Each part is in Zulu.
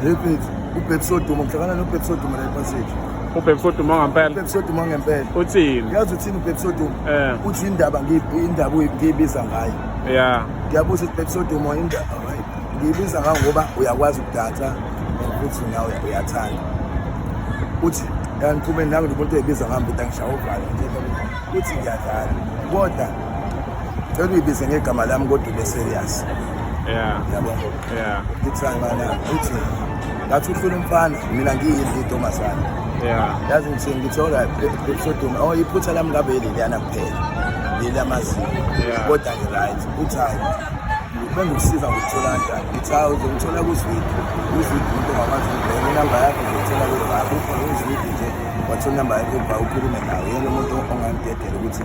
Repeat. UBhebs oduma uhlangana noBhebs oduma la ePassage. UBhebs oduma ngempela. UBhebs oduma ngempela. Uthini? Uyazi uthini uBhebs oduma? Eh. Uthi indaba ngiyindaba uyibiza ngayo. Yeah. Ngiyabuza uBhebs oduma indaba ngiyibiza ngayo ngoba uyakwazi ukudansa futhi nawe uyathanda. Uthi kangiphumeni nangu umuntu oyibiza ngami ukuthi angishaye uvalo nje. Uthi ngiyadlala. Kodwa Cela uyibize ngegama lami kodwa ube serious. Yeah. Yabo. Yeah. Ngithanga ngana uthi ngathi ufuna umfana mina ngiyini intombazane. Yeah. Yazi ngithini ngithi alright episode oh iphutha lami ngabe leliyana kuphela. Leliyamazinyo. Yeah. Kodwa ngi right. Uthi hayi bengikusiza ngokuthola kanjani ngithi hawu uzongithola kuzwidi uzwidi umuntu ongakwazi ukubheka inamba yakho uzongithola kuzwidi ukhona uzwidi nje wathola inamba yakho uba ukhulume nawo yena umuntu ongangidedela ukuthi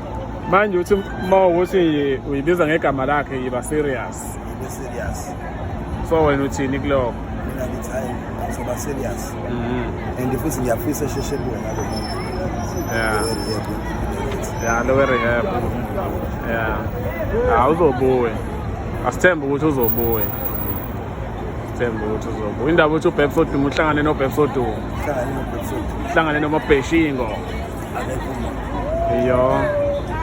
manje uthi uma ukuthi uyibiza ngegama lakhe yiba serious ibe serious so wena uthini kuloko mina ngithi hayi ngizoba serious Mhm. and futhi ngiyafisa esheshe kuwe ngalo muntu Yeah. Ngiyarehab. ya lowe rehab ya awuzobuye asithembe ukuthi uzobuye themba ukuthi uzobuya indaba ukuthi ubhebsodumo uhlangane nobhebsodumo uhlangane nomabheshingo iyo